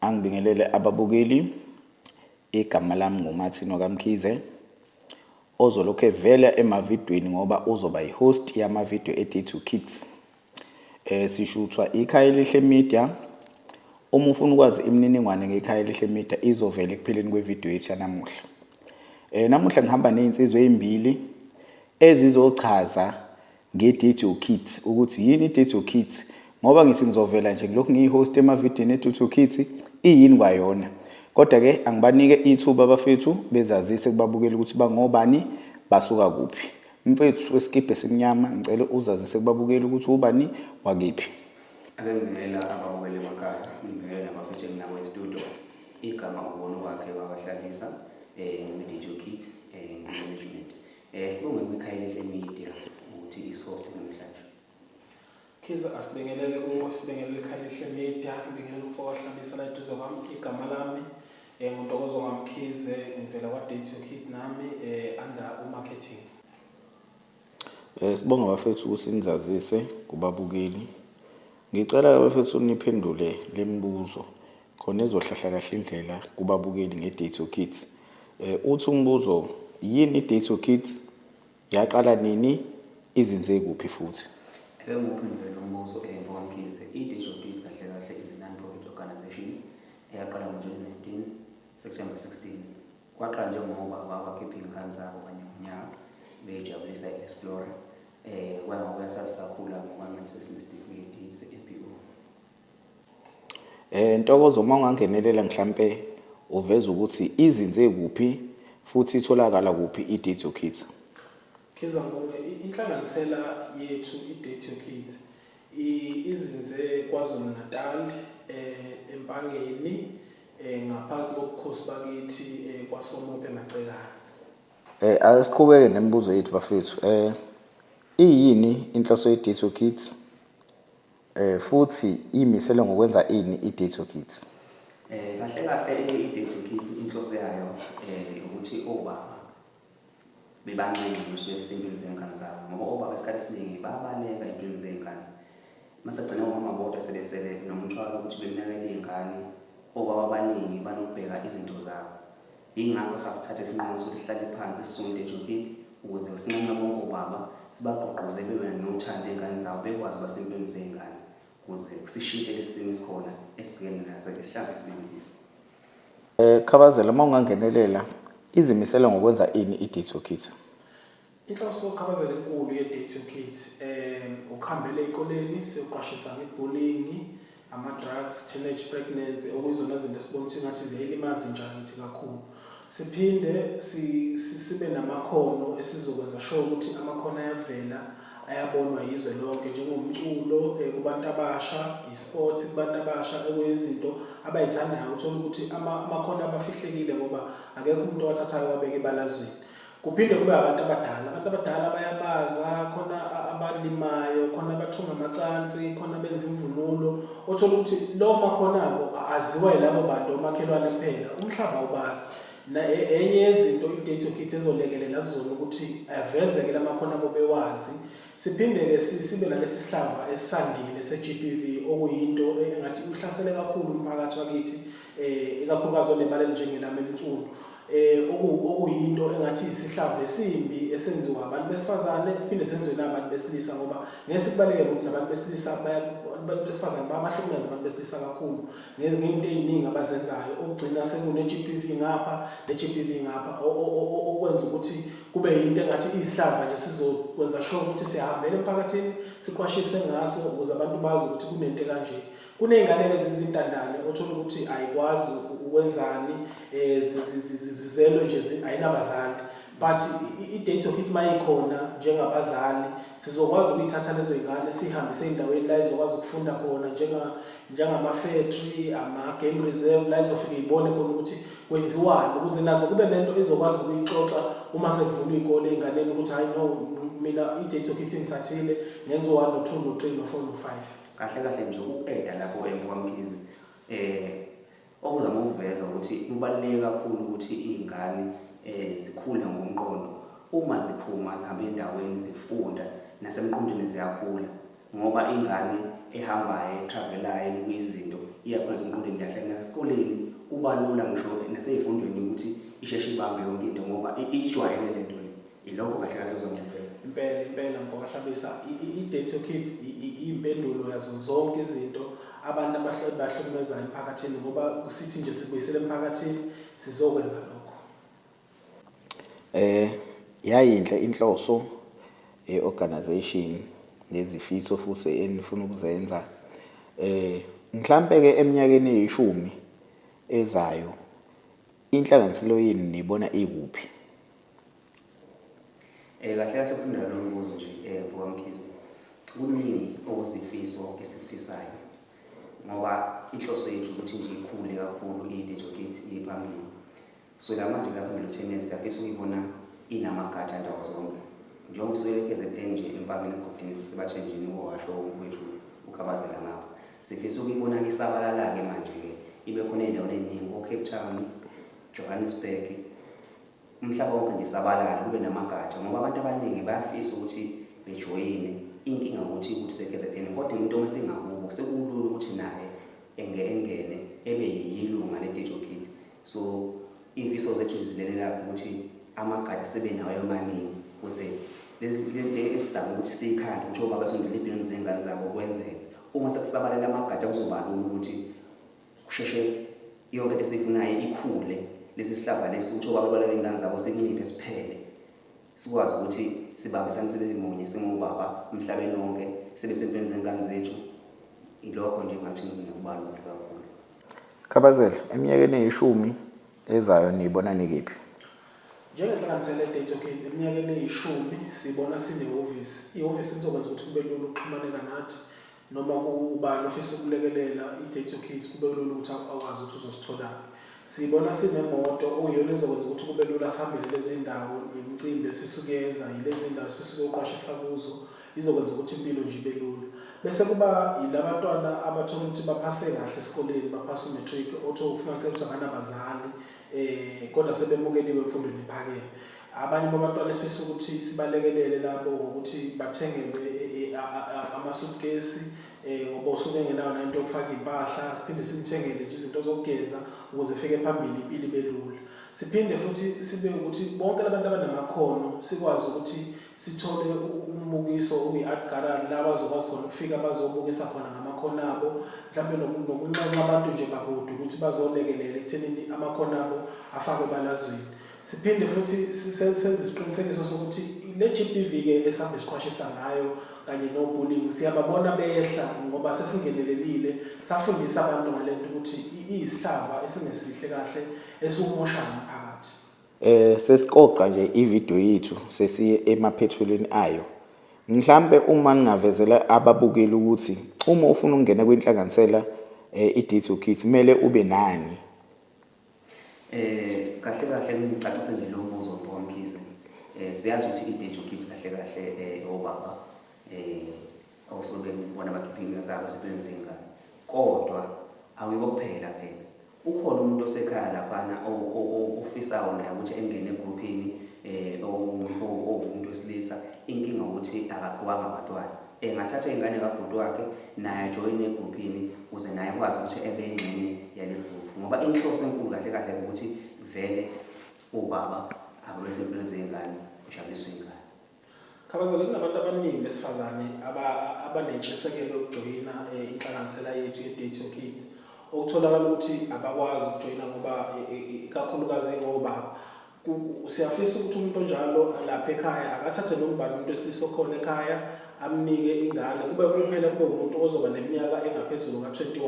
Angibingelele ababukeli. Igama lami nguMartin Okamkhize ozolokhu evela emavidweni ngoba uzoba yihost yamavideo eDay to Kids. Eh sishuthwa ikhaya elihle media. Uma ufuna ukwazi imininingwane ngekhaya elihle media izovela ekupheleni kwevideo yethu yanamuhla. Eh namuhla ngihamba nezinsizwa ezimbili ezizochaza Nge-Date Your Kids, ukuthi yini i-Date Your Kids? Ngoba ngithi ngizovela nje ngilokhu ngiyi-host emavidiyweni e-Date Your Kids, iyini kwayona? Kodwa-ke angibanike ithuba abafethu bezazise kubabukeli ukuthi bangobani, basuka kuphi. Mfethu wesikibha esimnyama, ngicela uzazise kubabukeli ukuthi ubani, wakephi. Ake ngibingelela ababukeli emakhaya, ngibingelela nabafethu enginabo e-studio. Igama uBono wakhe wakahlalisa, eh, ngiyi-Date Your Kids, eh, ngiyi-management. Eh sibonge kuMikhayeli Hle Media ukuthi isoste namhlanje. Khiza asibingelele kuwo sibingelele ikhaya elihle media ngibingelele umfo wahlabisa la eduze kwami igama lami eh nguntokozo ngamkhize ngivela kwa date your kid nami eh under u marketing Eh sibonga bafethu ukuthi nizazise kubabukeli. Ngicela bafethu niphendule lemibuzo. khona ezohlahla kahle indlela kubabukeli nge-Date Your Kids. Eh, uthi umbuzo, yini i-Date Your Kids? Yaqala nini? Izinze kuphi futhi? Ake ngiwuphendule lo mbuzo eMva kwaMkhize. I-Date Your Kids kahle kahle is non-profit organization eyaqala ngo-2019 September 16. Kwaqala njengoba babakhipha iy'ngane zabo kanye ngonyaka beyijabulisa i-Explorer. Eh, kwaya ngokuya sasisakhula ngoba manje sesinesitifiketi se-APO. Eh Ntokozo uma ungangenelela mhlampe uveza ukuthi izinze kuphi futhi itholakala kuphi i-Date Your Kids. Khiza Ngubhe, inhlanganisela yethu i-Date Your Kids izinze KwaZulu-Natal eh eMpangeni eh ngaphansi kobukhosi bakithi eh, kwaSomophe Macekana. Eh asiqhubeke nemibuzo yethu bafethu. Eh iyini inhloso ye-Date Your Kids? Eh futhi imisele ngokwenza ini i-Day to Kids? Eh kahle kahle i-Day to Kids inhloso yayo eh ukuthi obaba bebanxenxe ukuthi bebesezimpilweni zengane zabo ngoba obaba isikhathi esiningi babaleka empilweni zey'ngane masegcine umama bodwa sebesele nomthwalo ukuthi bekunakela iy'ngane obaba abaningi banokubheka izinto zabo Yingakho sasithatha isinqumo sokuthi sihlale phansi sisonde eJokit ukuze ngisinxenxe bonke obaba sibagqugquze bebe nothando ey'ngane zabo bekwazi uba sempilweni zey'ngane ukuze sishintshe lesi simo esikhona esibhekene naso isihlambi esinembisi. Eh, Khabazela, uma ungangenelela, izimisele ngokwenza ini iDitso Kids? Inhloso yokuqhabazela enkulu ye-Day to Kit um ukuhambela ey'koleni siyoqwashisa ngebullying, ama-drugs, teenage pregnancy okuyizona zinto esibona ukuthi ngathi ziyayilimaza intsha yakithi kakhulu. Siphinde sibe namakhono esizokwenza sure ukuthi amakhono ayavela ayabonwa yizwe lonke njengomculo eh, kubantu abasha, i-sports kubantu abasha ekuyizinto abayithandayo. Uthole ukuthi amakhono abafihlekile ngoba akekho umuntu owathathayo wabeka ebalazweni. Kuphinde kube abantu abadala, abantu abadala bayabaza, khona abalimayo, khona abathunga amacansi, khona benza imvunulo. Othola ukuthi lowo makhonabo aziwa yilabo bantu omakhelwane kuphela, umhlaba awubazi. E, enye yezinto i-date kit ezolekelela kuzona ukuthi avezeke la makhono abo bewazi siphinde-ke sibe nalesi sihlava esisandile se-g p v okuyinto engathi ihlasele kakhulu umphakathi wakithi um ikakhulukazi onebala elinjengelami elinsundu eh okuyinto engathi isihlava esimbi esenziwa abantu besifazane siphinde senziwe nabantu besilisa ngoba ngeke sikubaleke ukuthi nabantu besilisa abantu besifazane babahlukumeza abantu besilisa kakhulu ngezinto eziningi abazenzayo okugcina sekune GBV ngapha ne GBV ngapha okwenza ukuthi kube yinto engathi isihlava nje sizokwenza sure ukuthi sihambele emphakathini siqwashise ngaso ukuze abantu bazi ukuthi kunento kanje Kuney'ngane ke zizintandane othola ukuthi ayikwazi ukwenzani um zizelwe nje ayinabazali but i-date of it mayikhona njengabazali sizokwazi ukuyithatha lezo y'ngane siyihambise ey'ndaweni la izokwazi ukufunda khona njengama-factory ama-game reserve la izofike ibone khona ukuthi kwenziwani ukuze nazo kube nento izokwazi ukuyixoxa uma sekuvulwa iy'kole ey'nganeni ukuthi hhayi no mina i-date of it ngithathile ngenziwani no-two no-three no-four no-five kahle kahle nje ukuqeda lapho emkwamkhize eh okuzama ukuveza ukuthi kubaluleke kakhulu ukuthi iy'ngane um eh, zikhule ngomqondo uma ziphuma zihambe endaweni zifunda nasemqondweni ziyakhula ngoba ingane ehambayo etravelayo ebuka izinto iyakhula semqondweni kahle nasesikoleni kuba lula ngisho nasey'fundweni ukuthi isheshe ibambe yonke into ngoba ijwayele le nto le Ilokho kahle kahle uzongempela. Impela impela mfo kahlabisa i-date your kid iyimpendulo yazo zonke izinto abantu abahlukumezayo emphakathini ngoba sithi nje sibuyisele emphakathini sizokwenza lokho. Eh yayinhle inhloso ye-organization nezifiso futhi enifuna ukuzenza. Eh mhlampe ke eminyakeni eyishumi ezayo inhlanganiselo yenu nibona ikuphi? Eh kahle kahle uphinde lo mbuzo nje eh Bhuka Mkhize. Kuningi okuzifiso esifisayo. Ngoba inhloso yethu ukuthi nje ikhule kakhulu i-Dijo Kit iphambili. So la manje lapha phambili kutheni siyafisa ukuyibona inamagatsha ndawo zonke. Njengoba usuke KZN nje empakeni egodini sisebathenjini uwasho umfowethu ukhabazela ngapha. Sifisa ukuyibona isabalala-ke manje-ke ibe khona ey'ndaweni ey'ningi ko-Cape Town, Johannesburg, umhlaba wonke nje sabalale kube namagatsha ngoba abantu abaningi bayafisa ukuthi bejoyine inkinga ukuthi ukuthi seKZN kodwa umuntu uma sengakubo sekulula ukuthi naye enge engene ebe yilunga leDejo Kid so imfiso zethu zizilelela ukuthi amagatsha sebe nawo amaningi kuze esizama ukuthi siyikhande ukuthi obaba sondela empilweni zengane zabo kwenzeke uma sekusabalela amagatsha kuzoba lula ukuthi kusheshe yonke into esiyifunayo ikhule lesi sihlava lesi ukuthi obaba balale iy'ngane zabo sinciphe siphele sikwazi ukuthi sibambisane sibe munye singobaba emhlabeni wonke sibe sentweni zengane zethu ilokho nje ngathi ngikubalule kakhulu khabazela eminyakeni eyishumi ezayo niyibona nikiphi njengenhlanganisela ye-date okay eminyakeni eyishumi sibona sinehhovisi ihhovisi lizokwenza ukuthi kube lula ukuxhumaneka nathi noma ubani ofisa ukulekelela i-data kids kube kulula ukuthi akwazi ukuthi uzositholaphi siyibona sinemoto okuyiyona ezokwenza ukuthi kube lula sihambele lezi ndawo yemicimbi esifisa ukuyenza yilezi ndawo esifisa ukuqwashisa kuzo izokwenza ukuthi impilo nje ibe lula bese kuba yilabantwana abathola ukuthi baphase kahle esikoleni baphase umatric otho ufumaniseka ukuthi abanabazali eh kodwa sebemukeliwe emfundweni ephakeme abanye babantwana esifisa ukuthi sibalekelele labo ngokuthi bathengelwe eh, eh, amasuitcase eh ngoba usuke engenayo nento yokufaka impahla siphinde simthengele nje izinto zokugeza ukuze efike phambili impilo ibe lula siphinde futhi sibe ukuthi bonke labantu abanamakhono sikwazi ukuthi sithole umbukiso obi-art gallery la bazokwazi khona ukufika bazobukisa khona ngamakhono abo mhlawumbe nokunxenxa abantu nje bakude ukuthi bazolekelela ekuthenini amakhono abo afakwe ebalazweni siphinde futhi senze isiqinisekiso sokuthi le g p v ke esihambe siqwashisa ngayo kanye no-bullying siyababona behla ngoba sesingenelelile safundisa abantu ngale nto ukuthi iyisihlava esingesihle kahle esiwumoshayo umphakathi Eh sesiqoqa nje ivideo yethu sesiye emaphethelweni ayo. Mhlambe uma ngingavezela ababukeli ukuthi uma ufuna ukungena kwinhlanganisela eh, i-Ditso Kids kumele ube nani? Eh kahle kahle ngicacise nje lo mbuzo Mpho Mkhize. Eh siyazi ukuthi i-Ditso Kids kahle kahle eh obaba eh awusobe ngibona bakhipha iy'nga zabo ezintweni zey'ngane kodwa awuyibo kuphela phela ukhona umuntu osekhaya laphana ofisayo naye ukuthi engene egruphini um owumuntu wesilisa inkinga ukuthi akaphiwanga abantwana engathatha iy'ngane kabhuti wakhe naye ajoyine egruphini ukuze naye kwazi ukuthi ebe ingxenye yale gruphu ngoba inhloso enkulu kahle kahle ukuthi vele ubaba ababesempilweni zey'ngane ujabuliswa ingane Khabazela kunabantu abaningi besifazane abanentshisekelo yokujoyina eh, inhlanganisela yethu ye-date your kid okutholakala ukuthi abakwazi ukujoyina ngoba ikakhulukazi ngobaba siyafisa ukuthi umuntu onjalo alapha ekhaya akathathe nombani umuntu wesilisa okhona ekhaya amnike ingane kube kuphela kube umuntu ozoba neminyaka engaphezulu ka-21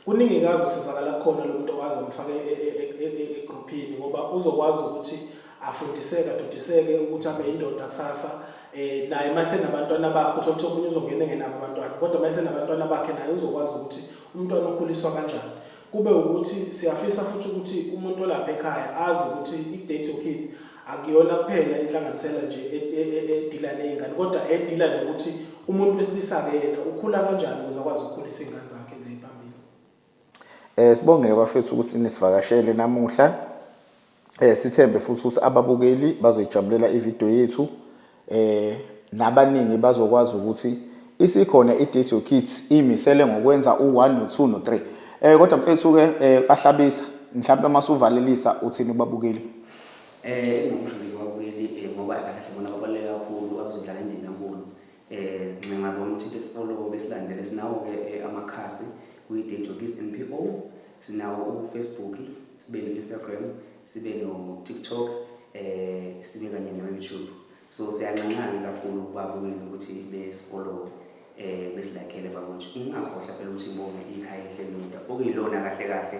kuningi kazi usizakala kukhona lo muntu okwazi amfake egruphini e, e, e, ngoba uzokwazi ukuthi afundiseke adodiseke ukuthi abe yindoda kusasa eh naye mase nabantwana bakhe uthola ukuthi omunye uzongena engenabo abantwana kodwa mase nabantwana bakhe naye uzokwazi ukuthi umntwana ukhuliswa kanjani kube ukuthi siyafisa futhi ukuthi umuntu olapha ekhaya azi ukuthi i-date your kid akuyona kuphela inhlanganisela nje e, e, e, edila nezingane kodwa edila nokuthi umuntu wesilisa-ke yena ukhula kanjani ukuze akwazi ukukhulisa iy'ngane zakhe Eh sibongeke bafethu ukuthi nisivakashele namuhla. Eh sithembe futhi ukuthi ababukeli bazoyijabulela ivideo yethu. Eh nabaningi bazokwazi ukuthi isikhona iDisco Kids imisele ngokwenza u1 no2 no3. Eh kodwa mfethu ke eh ahlabisa mhlawumbe masuvalelisa uthini kubabukeli. Eh ngikusho nje kubabukeli eh, ngoba kahle kahle bona babaluleke kakhulu abazodlala indima enkulu. Eh sincenga bomthinte sifollow besilandele sinawo ke eh, amakhasi kuyi Date Jokis NPO sinawo u Facebook sibe ne Instagram sibe no TikTok eh sibe kanye no YouTube so siyanxanxana kakhulu kubabukeli ukuthi besifollow eh besilakele bakwethu ungakhohlwa phela ukuthi imbonga ikhaya elihle lomda okuyilona kahle kahle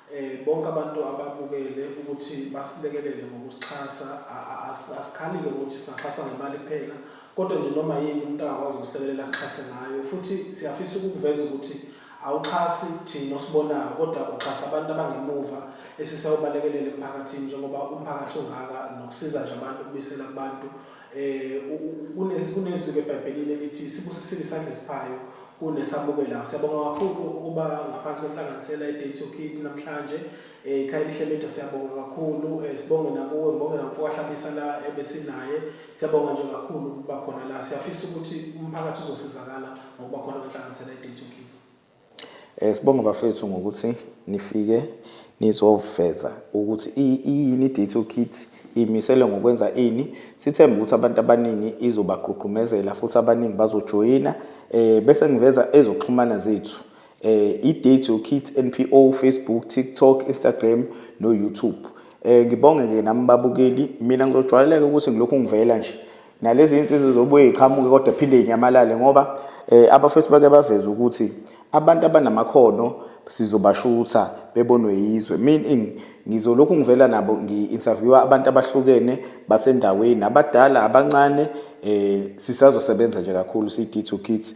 Bonke abantu ababukele ukuthi basilekelele ngokusixhasa. Asikhali-ke ukuthi singaxhaswa ngemali kuphela kodwa nje noma yini umuntu angakwazi ukusilekelela asixhase ngayo futhi siyafisa ukukuveza ukuthi awuxhasi thina osibonayo kodwa uxhasa abantu abangemuva esisayobalekelela emphakathini njengoba umphakathi ungaka nokusiza nje abantu ukubuyisela kubantu um kunezwi-ke ebhayibhelini elithi sibusisile isandla esiphayo kunesamukelayo siyabonga kakhulu ukuba ngaphansi kwenhlanganisela i-date yokini namhlanje um ikhaya elihle media siyabonga kakhulu um sibonge nakuwe ngibonge namfokahlabisa la ebesinaye siyabonga nje kakhulu ukuba khona la siyafisa ukuthi umphakathi uzosizakala ngokuba khona kwenhlanganisela i-date yokini Eh sibonga bafethu ngokuthi nifike nizoveza ukuthi iyini i-Detour Kit imisele ngokwenza ini sithemba ukuthi abantu abaningi izobagqugqumezela futhi abaningi bazojoyina eh bese ngiveza ezoxhumana zethu eh i-Detour Kit NPO Facebook TikTok Instagram no YouTube eh ngibonge ke nami babukeli mina ngizojwayeleka ukuthi ngilokhu ngivela nje nalezi insizwa zobuye iqhamuke kodwa phinde inyamalale ngoba eh, abafethu bake baveza ukuthi abantu abanamakhono sizobashutha bebonwe yizwe meaning ngizolokhu ngivela nabo ngi-interviewa abantu abahlukene basendaweni abadala abancane eh sisazosebenza nje kakhulu siyi-kit to kit